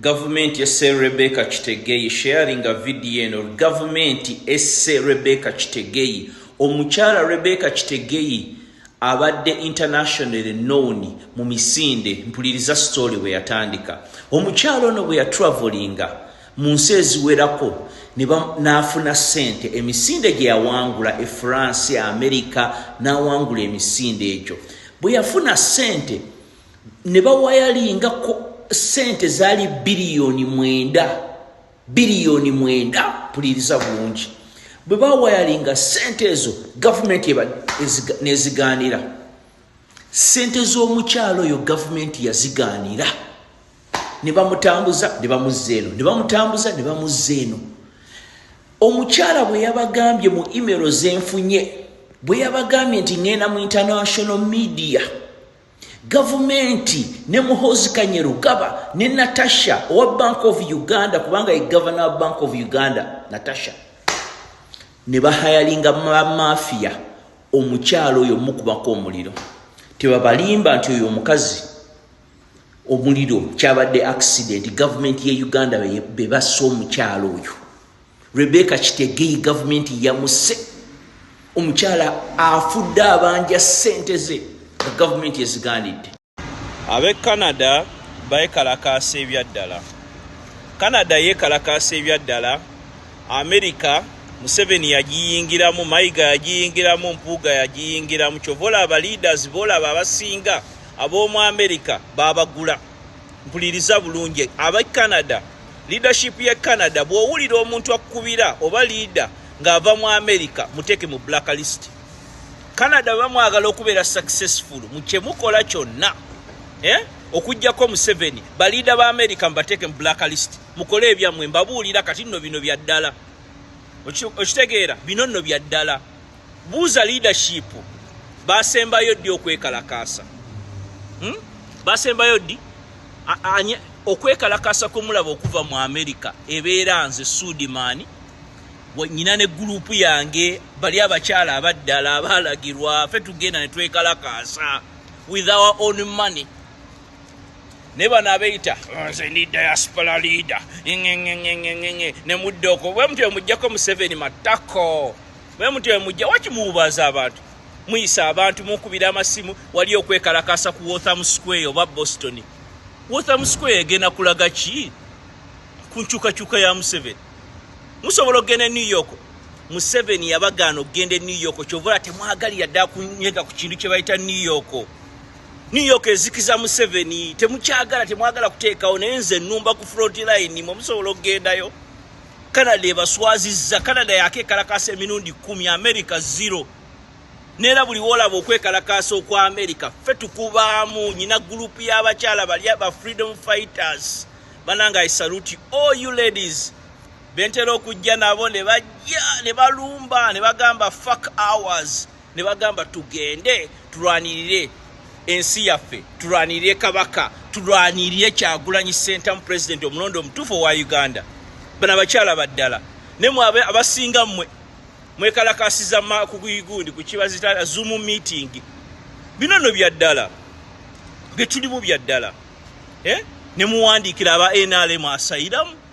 Gavumenti esse Rebecca Kitegeyi sharinga vidiyo eno Gavumenti esse Rebecca Kitegeyi Omukyala Rebecca Kitegeyi abadde international known mu misinde mpuliriza story bwe yatandika omukyala ono bwe yatravelinga mu nsi eziwerako n'afuna ssente emisinde gye yawangula e france amerika n'awangula emisinde egyo bwe yafuna ssente ne bawayalingako sente zaali biliyoni mwenda biliyoni mwenda puliriza bulungi bwe bawayalinga sente ezo gavumenti nezigaanira sente z'omukyalo oyo gavumenti yazigaanira ne bamutambuza ne bamuzza eno ne bamutambuza ne bamuzza eno omukyala bwe yabagambye mu imero zenfunye bwe yabagambye nti ŋŋenda mu international media gavumenti ne muhozi kanyerugaba ne natasha owa bank of uganda kubanga ye gavana wa bank of uganda natasha ne bahayalinga bamafiya omukyalo oyo mukubako omuliro tebabalimba nti oyo omukazi omuliro kyabadde accident gavumenti ye uganda bebassa omukyalo oyo Rebecca Kitegei gavumenti yamuse omukyala afudde abanja ssente ze nga gavumenti ezigaanidde. Ab'e Canada beekalakaasa ebyaddala. Canada yeekalakaasa ebyaddala. Amerika Museveni yagiyingiramu, Mayiga yagiyingiramu, Mpuuga yagiyingiramu. Kyova olaba leaders boolaba abasinga ab'omu Amerika baabagula. mpuliriza bulungi aba canada leadership ya canada bw'owulira omuntu akukubira oba leader ng'ava mu america muteeke mu black list canada bamwagala okubeera successful mukyemukola kyonna eh? okugyako museveni baliida ba america mubateeke mu black list mukole ebyammwe mbabuulira kati nno bino bya ddala okitegeera bino nno bya ddala Buuza leadership basembayo ddi okwekalakaasa hmm? basembayo ddi okwekalakaasa kwemulaba okuva mu amerika ebeera nze sudimaani nyina ne gurupu yange bali abakyala abaddala abaalagirwa fe tugenda ne twekalakaasa with our own money naye bano abeyita ah, nze ndi diaspora leader ngengengengengenge ne mudda okwo bwe mutyo mugyako museveni matako Mwe mutyo mwe mujja waki muwubaaza abantu muyisa abantu munkubira amasimu wali okwekalakaasa ku Waltham Square oba Boston. Waltham Square egenda kulaga ki ku nkyukakyuka ya Museveni? Musobola okugenda e New York Museveni yabagaana okugenda e New York kyova olaba temwagalira dda kunyega ku kintu kye bayita New York. New York ezikiza Museveni temukyagala temwagala kuteekawo naye nze nnumba ku front line mwe musobola okugendayo. Canada ebaswazizza. Canada yakekalakaasa emirundi kumi, America zero. Neera buli wolaba okwekalakaasa okwa America, ffe tukubaamu. Nyina group y'abakyala bali aba freedom fighters. Bananga I salute all you ladies. Bentera okujja nabo ne bajja ne balumba ne bagamba fuck hours. ne bagamba tugende tulwanirire ensi yaffe tulwanirire kabaka tulwanirire kyagulanyi sentamu pulezidenti omulonda omutuufu owa uganda bano abakyala baddala ne mwe abasinga mmwe mwekalakasiza makuguyigundi kukibazita zumu meeting bino no byaddala byetulimu byaddala eh? ne muwandiikira aba nrm asayiramu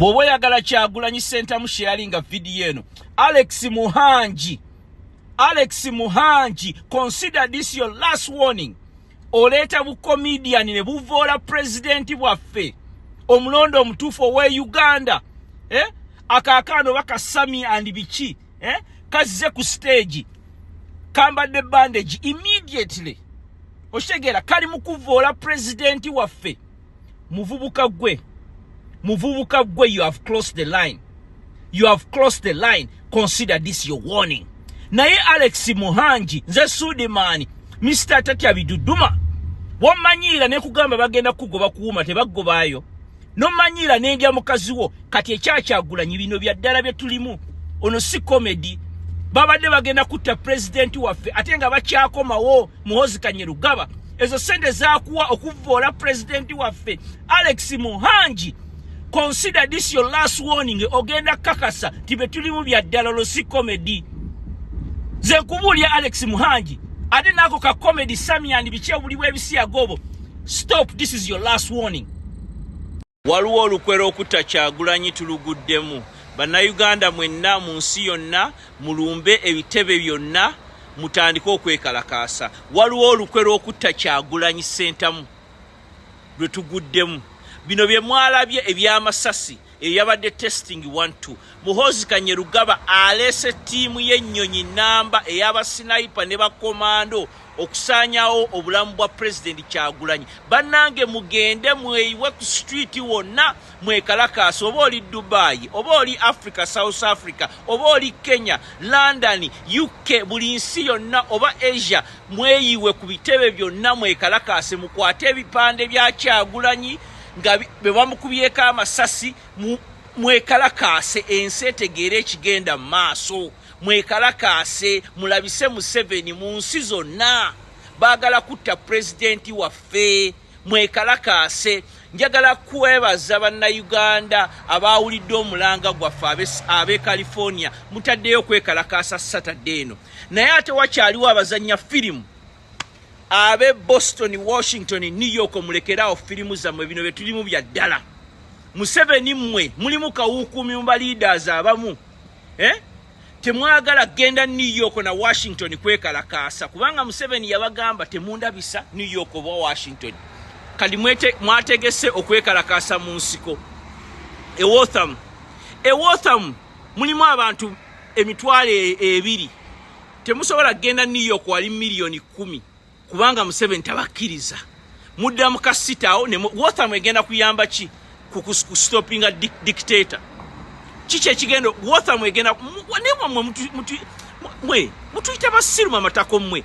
Bwoba oyagala kyagulanyi sentamu sharinga video eno Alex Muhangi Alex Muhangi consider this your last warning oleeta bu comedian ne buvoola president bwaffe omulondo omutuufu owe Uganda eh? akakaano baka Sami and biki eh? kazze ku stage kambadde bandage immediately oshegera kali mukuvoola president waffe muvubuka gwe muvubuka gwe you have closed the line you have closed the line consider this your warning naye alex muhangi nze sudimaani mr tatya biduduma wamanyiira nekugamba bagenda kugoba kuwuma tebagobaayo nomanyiira nendya mukazi wo kati ekyakyagulanyi bino byaddala byetulimu ono si comedy babadde bagenda kutta pulezidenti waffe ate nga bakyakomawo muhozi kanyerugaba ezo sente zakuwa okuvvoola pulezidenti waffe alex muhangi consider this your last warning ogenda kakasa ti be tulimu bya ddala olwo si comedy ze nkubuulya alex muhangi ate naako ka comedy samian biki obuli bw'ebisiyaga obwo stop this is your last warning Waliwo olukwe lw'okutta Kyagulanyi tuluguddemu. Bannayuganda mwenna mu nsi yonna mulumbe ebitebe byonna mutandike okwekalakaasa. Waliwo olukwe lw'okutta Kyagulanyi Ssentamu lwe tuguddemu. Bino bye mwalabye eby'amasasi eyo yabadde testing one two. Muhoozi Kanyerugaba aleese ttiimu y'ennyonyi nnamba eya basinayipa ne bakomando. okusaanyawo obulamu bwa pulezidenti kyagulanyi bannange mugende mweyiwe ku situiti wonna mwekalakaasi oba oli dubayi oba oli africa south africa oba oli kenya london uk buli nsi yonna oba asia mweyiwe ku bitebe byonna mwekalakaase mukwate ebipande bya kyagulanyi nga bwe bamukubyeko amasasi mwekalakaase ensi etegeera ekigenda mu maaso Mwekalakaase mulabise Museveni mu nsi zonna. Baagala kutta Pulezidenti waffe. Mwekalakaase. Njagala kwebaza Bannayuganda abaawulidde omulanga gwaffe ab'e California. Mutaddeyo okwekalakaasa Saturday eno. Naye ate wakyaliwo abazannya firimu abe boston washington new york mulekeraawo firimu zammwe bino bye tulimu bya ddala museveni mmwe mulimu kawuukuumi mu baliiders abamu eh? temwagala genda new york na washington kwekalakaasa kubanga museveni yabagamba temundabisa new york oba washington kati mwategese okwekalakaasa mu nsiko ewotham ewotham mulimu abantu emitwalo e, ebiri temusobola kugenda new york wali miliyoni kumi kubanga museveni tabakkiriza mudda mukasitawo wotham egenda kuyamba ki kustopinga dictator kiki ekigenda wotham egenda mwe mutuyita basiru mamatako mwe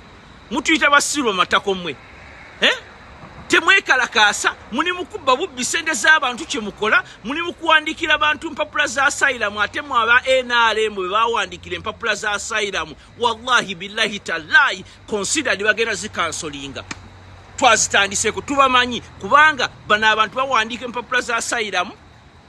mutuyita basiru mamatako mwe eh? temwekalakaasa muli mukubba bubbi sente z'abantu kyemukola muli mukuwandikira bantu mpapula za sayiramu ate mwe aba nrm bwe bawandikira empapula za sayiramu wallahi billahi talayi consider nibagenda zikansolinga twazitandiseko tubamanyi kubanga bano abantu bawandiika empapula za sayiramu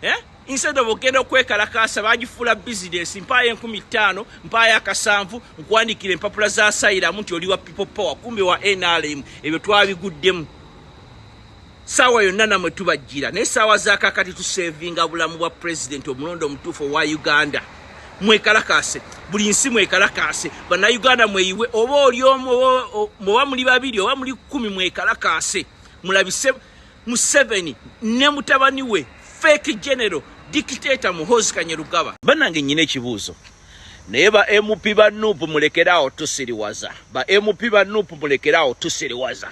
eh? instead of ogenda okwekalakaasa bagifuula bizinesi mpaayo enkumi ttaano mpaayo akasanvu nkwandikira empapula za sayiramu nti oli wa people power kumbe wa nrm ebyo twabiguddemu Saawa yonna namwe tubajjira naye saawa zakakati tusevinga bulamu bwa president omulonda omutuufu owa Uganda mwekalakaase buli nsi mwekalakaase bannayuganda mweyiwe oba oli omu oba muli babiri oba muli kumi mwekalakaase mulabise museveni ne mutabani we fake general dictator muhozi kanyerugaba banange nyina ekibuuzo naye ba mp ba nup mulekeraawo tusiriwaza ba mp ba nup mulekeraawo tusiriwaza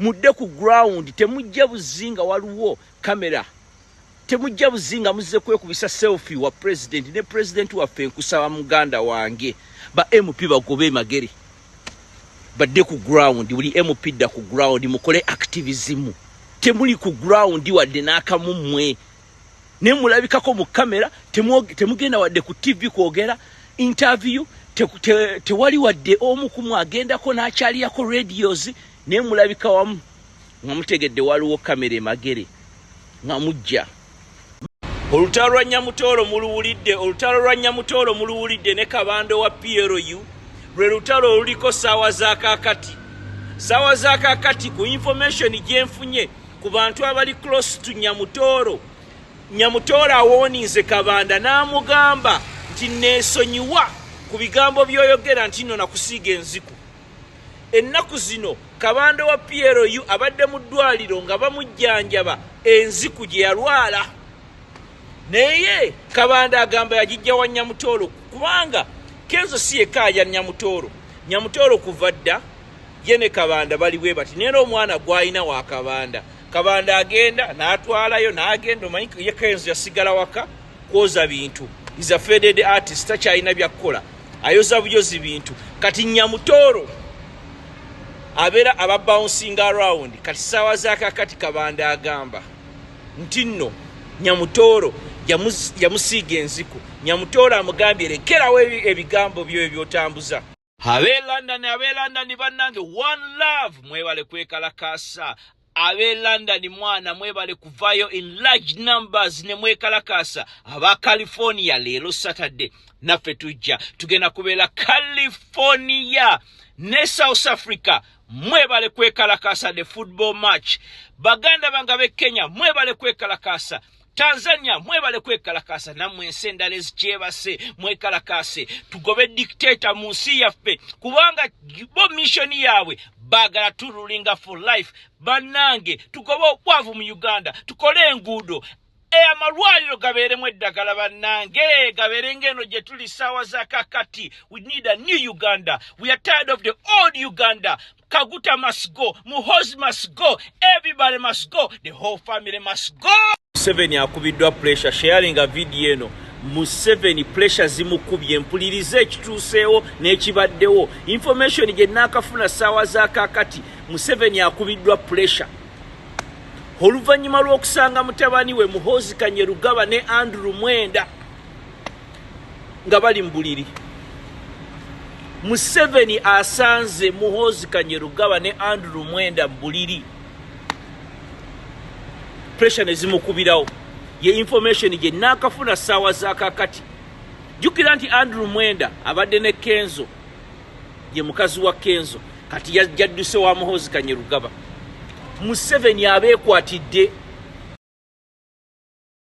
mudde ku ground temujja buzinga waliwo camera temujja buzinga muzze kwekubisa selfie wa president ne president waffe nkusaba muganda wange ba mp bagobe magere badde ku ground buli mp dda ku ground mukole activism temuli ku ground wadde n'akamu mmwe naye mulabikako mu kamera temugenda wadde ku tv kwogera interview tewali wadde omu kumu agendako n'akyaliyako radios naye mulabika wamu nga mutegedde waliwo kamera emagere nga mujja olutalo lwa nyamutoolo muluwulidde olutalo lwa nyamutoolo muluwulidde ne kabando wa plu lwe lutalo oluliko saawa zakakati saawa zakakati ku information gyenfunye Ku bantu abali close to Nyamutooro, Nyamutooro awooninze Kabanda n'amugamba nti neesonyiwa ku bigambo by'oyogera nti nno nakusiiga enziku. Ennaku zino Kabanda wa PLU abadde mu ddwaliro nga bamujjanjaba enziku gye yalwala. Naye Kabanda agamba yagijja wa Nyamutooro kubanga Kenzo si yekka alya Nyamutooro. Nyamutooro kuva dda. ye ne kabanda bali bwe bati naye omwana gwalina wa kabanda kabanda agenda natwalayo nagenda omanyi ye kenzo yasigala waka kwoza bintu is a faded artist takyalina byakukola ayoza buyozi bintu kati nyamutoro abeera aba bouncing around kati saawa zakakati kabanda agamba nti nno nyamutoro yamusiiga enziku nyamutoro amugambye lekerawo ebigambo byoyo byotambuza Abe London abe London banange one love mwebale kwekalakaasa abe London mwana mwebale kuvayo in large numbers ne mwekalakaasa aba California leero Saturday naffe tujja tugenda kubeera California ne South Africa mwebale kwekalakaasa the football match baganda bange abe Kenya mwebale kwekalakaasa tanzania mwebale kwekalakaasa namwe ensi endala ezikyebase mwekalakaase tugobe dictator mu nsi yaffe kubanga bo missioni yaabwe bagala turulinga for life bannange tugobe obwavu mu uganda tukole enguudo e amalwaliro gabeeremu eddagala bannange gabeere ngaeno gye tuli ssaawa za kakati we need a new uganda we are tired of the old uganda Kaguta must go. Muhozi must go. Everybody must go. The whole family must go. Museveni akubiddwa pressure sharing a video eno Museveni pressure zimukubye mpulirize ekituuseewo n'ekibaddewo information gye naakafuna ssaawa za kaakati Museveni akubiddwa pressure oluvannyuma lw'okusanga mutabani we Muhoozi Kanyerugaba ne Andrew Mwenda nga bali mubuliri museveni asanze muhoozi kanyerugaba ne andrew mwenda mubuliri pressure nezimukubirawo ye information gye nakafuna saawa zakakati jukira nti andrew mwenda abadde ne kenzo ye mukazi wa kenzo kati yadduse wa muhoozi kanyerugaba museveni abeekwatidde